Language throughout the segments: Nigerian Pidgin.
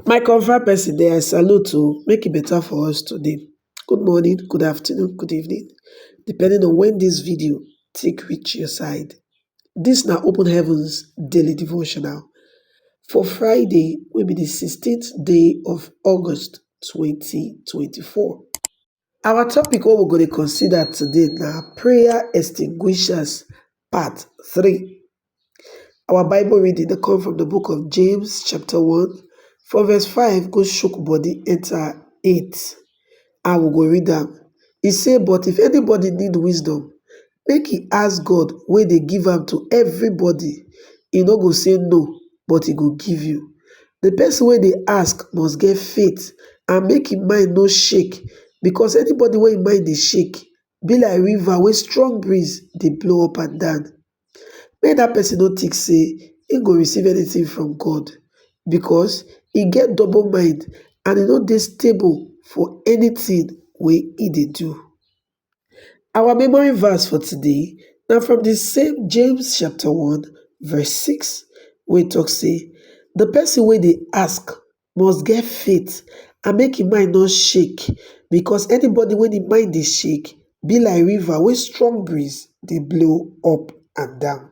My confirm person dem I salute oh, make e better for us today. Good morning, good afternoon, good evening, depending on when this video take reach your side. This na Open Heavens Daily Devotional for Friday wey be the sixteenth day of August twenty twenty four. Our topic wey we go dey consider today na prayer extinguishers part three. Our bible reading dey come from the book of James chapter one from verse five go shook body enter eight and we go read am. E say but if anybody need wisdom make e ask god wey dey give am to everybody he no go say no but he go give you the person wey dey ask must get faith and make him mind no shake because anybody wey him mind dey shake be like river wey strong breeze dey blow up and down make that person no think say he go receive anything from god because he get double mind and he no dey stable for anything wey he dey do Our memory verse for today na from the same James chapter 1 verse 6 wey talk say, the person wey dey ask must get faith and make im mind no shake because anybody wey im mind dey shake be like river wey strong breeze dey blow up and down.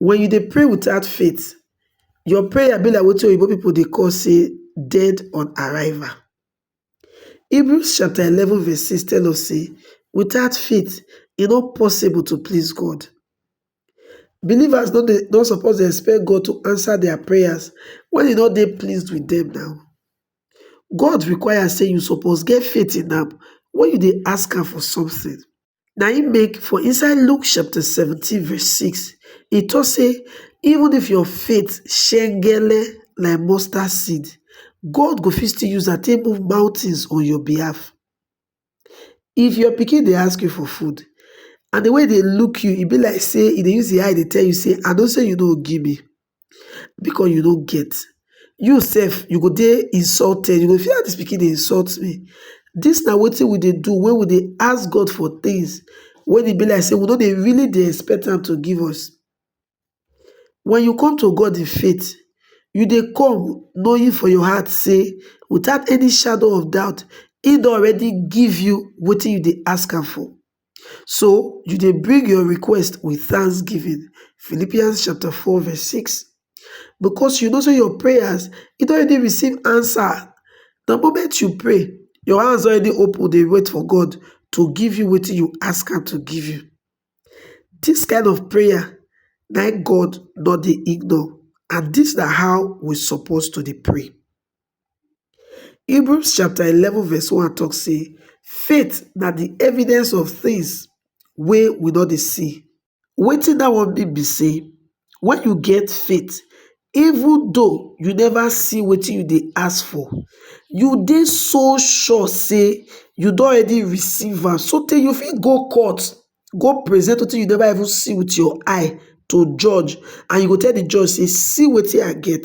Wen you dey pray without faith, your prayer be like wetin oyibo pipu dey call sey dead on arrival. Hebrews chapter eleven verse six tell us sey without faith e no possible to please God. Believers no dey no suppose dey expect God to answer their prayers wen e no dey pleased with dem now. God require sey you suppose get faith in am wen you dey ask am for something. na im make for inside luke chapter seventeen verse six e talk say even if your faith shekgelle like mustard seed God go fit still use am take move mountains on your behalf if your pikin dey ask you for food and the way e dey look you e be like say e dey use im eye dey tell you say I know say you no go give me because you no get you sef you go dey insulted you go feel how dis pikin dey insult me dis na wetin we dey do when we dey ask God for things when e be like say we no dey really dey expect am to give us when you come to God in faith you dey come knowing for your heart say without any shadow of doubt he don already give you wetin you dey ask am for So you dey bring your request with thanksgiving, Philippians chapter 4 verse 6. Because you know say your prayers, it already receive answer. The moment you pray, your hands already open, they wait for God to give you what you ask him to give you. This kind of prayer, na God not the ignore. And this na how we supposed to dey pray. Hebrews chapter 11 verse 1 talk say faith na the evidence of things wey we no dey see. Wetin that one mean be say when you get faith even though you never see wetin you dey ask for you dey so sure say you don already receive am sotey you fit go court go present wetin you never even see with your eye to judge and you go tell the judge say see wetin I get.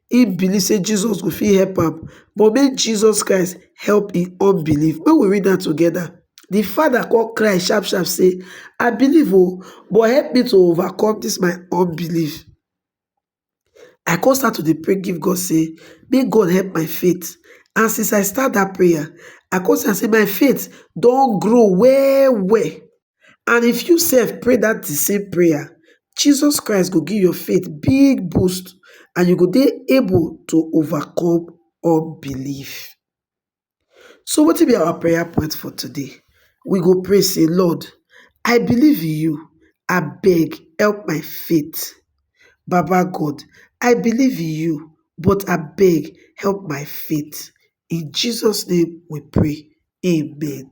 he believe say Jesus go fit help am, but make Jesus Christ help him unbelief. Make we read am together. The father come cry sharp sharp say, I believe oh, but help me to overcome this my unbelief. I come start to dey pray give God say, make God help my faith. And since I start that prayer, I come see say my faith don't grow well well. and if you sef pray that the same prayer, Jesus Christ go give your faith big boost and you go dey able to overcome unbelief. So wetin be our prayer point for today? We go pray say, Lord, I believe in you. I beg, help my faith. Baba God, I believe in you, but I beg, help my faith. In Jesus' name we pray. Amen.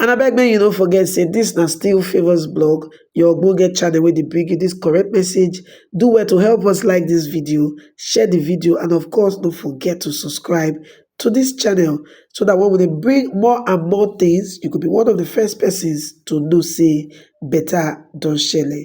And I beg make you no forget say this na still Favours blog, your ogbonge channel wey dey bring you this correct message. Do well to help us like this video, share the video and of course don't forget to subscribe to this channel so that when we bring more and more things, you could be one of the first persons to know say better don shele.